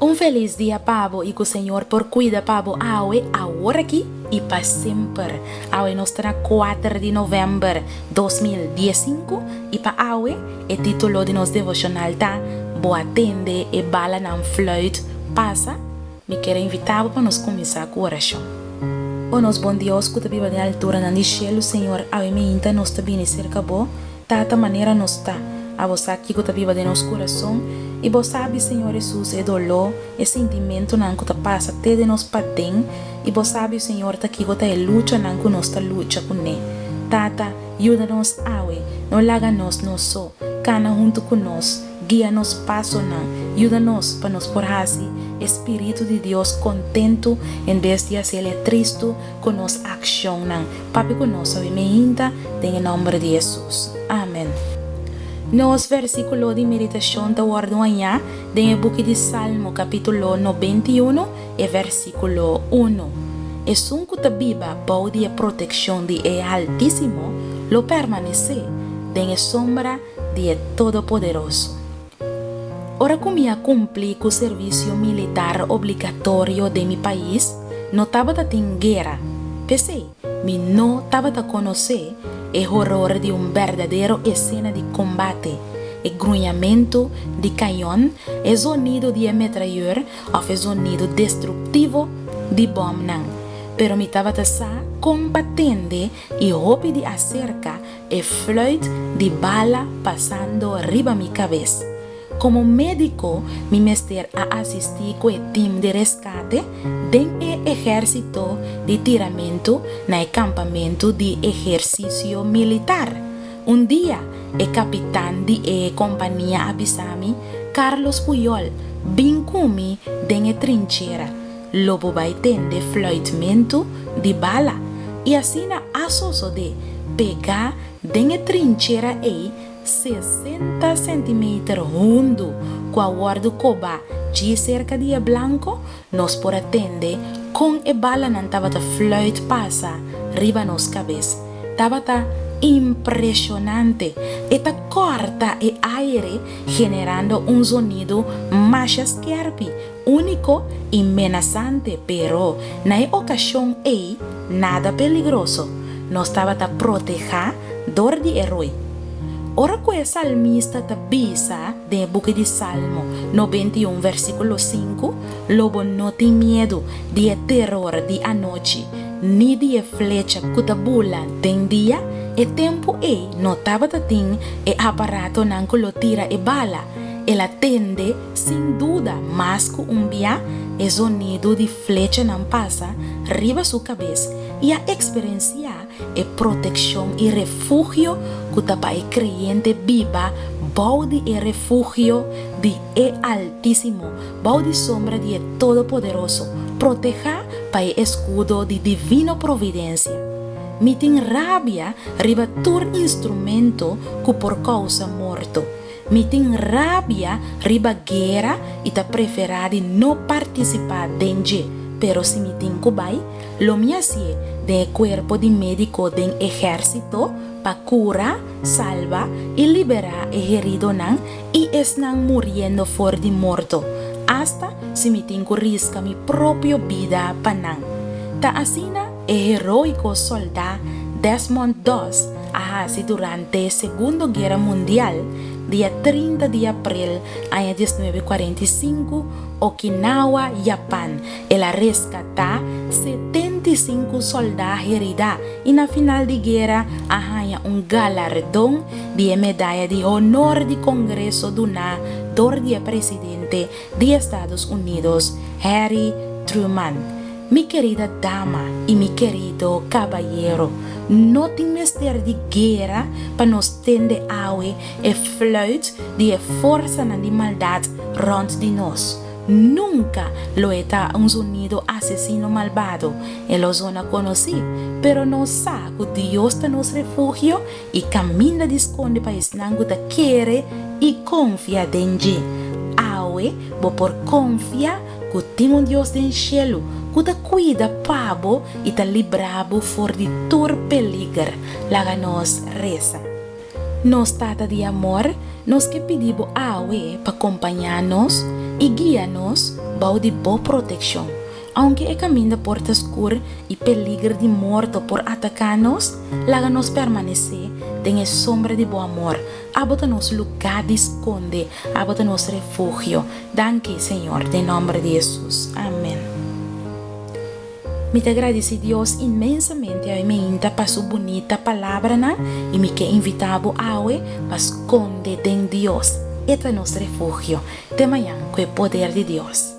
Un felis dia pa bo y cu Señor por cuida pa bo awe, aworaki y pa semper. Awe nos ta na kuater di november dos mil dies sinku y pa awe e titulo di nos devocional ta Bo a tende e balanan fluit pasa. Mi quiero invita bo pa nos cuminsa cu oracion. O nos bon Dios cu ta biba den alturanan di cielo, Señor, awe miinta nos ta bini cerca bo. Tata, manera nos ta, abo sa kico ta biba den nos curason, y bo sabi, Señor Hesus, e doló, e sintimentonan cu ta pasa te den nos paden, y bo sabi, Señor, ta kico ta e luchanan cu nos ta lucha cu ne. Tata, yuda nos awe, no laga nos nos so, cana hunto cu nos, guia nos pasonan, yuda nos pa nos por haci e spiritu di Dios contento en bes di haci el e tristo, ku nos akshonnan, papia ku nos obi mi hinta den e nòmber di Hesus. Amen. Nos vèrsikulo di meditashon ta wòrdu hañá den e buki di Salmo kapítulo nobenta i unu, e vèrsikulo unu. Esun ku ta biba bou di e protekshon di e Altísimo lo permanesé den e sombra di e Todopoderoso. Ora ku mi a kumpli ku servisio militar obligatorio den mi pais, no tabata tin guera. P'esei, mi no tabata konosé e horor di un berdadero esena di kombate, e gruñamentu di kañon, e zonido di e metrayèr òf e zonido destruktivo di bòmnan. Pero mi tabata sa kon pa tende i hopi di aserka E fluit di bala pasando riba mi kabes. Komo médiko mi mester a asistí ku e tim di reskate den e ehérsito di tiramentu na e kampamentu di ehersisio militar. Un dia e kapitan di e kompania a bisa mi, Carlos Puyol, bin ku mi den e trinchera. Lo bo bai tende fluitmentu di bala i asina a sosodé pegá den e trinchera ei sesenta sentimeter hundu ku a wòrdu kobá djis serka di e blanko, nos por a tende kon e balanan tabata fluit pasa riba nos kabes. Tabata impreshonante! E ta kòrta e aere generando un zonidu masha skèrpi Úniko i menasante, pero na e okashon ei nada peligroso, nos tabata protehá dor di e rui. Ora ku e salmista ta bisa den e buki di Salmo noventa i un versíkulo sinku, Lo bo no tin miedu di e teror di anochi, ni di e flecha ku ta bula den dia, e tempu ei no tabata tin e aparatonan ku lo tira e bala, el a tende Sin duda, mas ku un bia, e zonidu di flechanan pasa riba su kabes i a eksperensiá e protekshon i refugio ku ta pa e kreyente biba bou di e refugio di e Altísimo, bou di sombra di e Todopoderoso, protehá pa e eskudo di divino providensia. Mi tin rabia riba tur instrumento ku por kousa morto. Mi tin rabia riba guera y ta prefera di no participa den dje, pero si mi tin cu bay, lo mi a sie den e cuerpo di medico den ehercito pa cura, salva y libera e heridonan y esnan muriendo for di morto, hasta si mi tin cu risca mi propio bida pa nan. Ta asina? E heroiko soldá Desmond Doss a hasi durante Segundo Guera Mundial, dia trinta di april aña dies nuebe kuarenta i sinku, Okinawa, Japan. El a reskatá setenta i sinku soldá heridá i na final di guera a haña un galardon di e Medaya di Honor di Kongreso duná dor di e presidente di Estados Unidos Harry Truman, Mi kerida dama i mi kerido kabayero, no tin mester di guera pa nos tende awe e fluit di e forsanan di maldat rònt di nos. Nunka lo e ta un zonido asesino malbado, e lo zona konosí, pero nos sa ku Dios ta nos refugio i kaminda di skonde pa esnan ku ta kere i konfia den dje. Awe bo por konfia ku tin un Dios den shelu ku ta kuida pa bo i ta libra bo for di tur peliger. Laga nos resa. Nos Tata di amor, nos ke pidi bo awe pa kompañá nos i guia nos bou di bo protekshon. Aunke e kaminda por ta skur i peliger di morto por ataká nos, laga nos permanesé den e sombra di bo amor. Abo ta nos lugá di skonde, abo ta nos refugio. Danki, Señor, den nòmber di Hesus. Amen. Mi ta gradisí Dios inmensamente awe meinta pa su bunita palabranan i mi ke invitá bo awe pa skonde den Dios. E ta nos refugio. Te mañan ku e poder di Dios.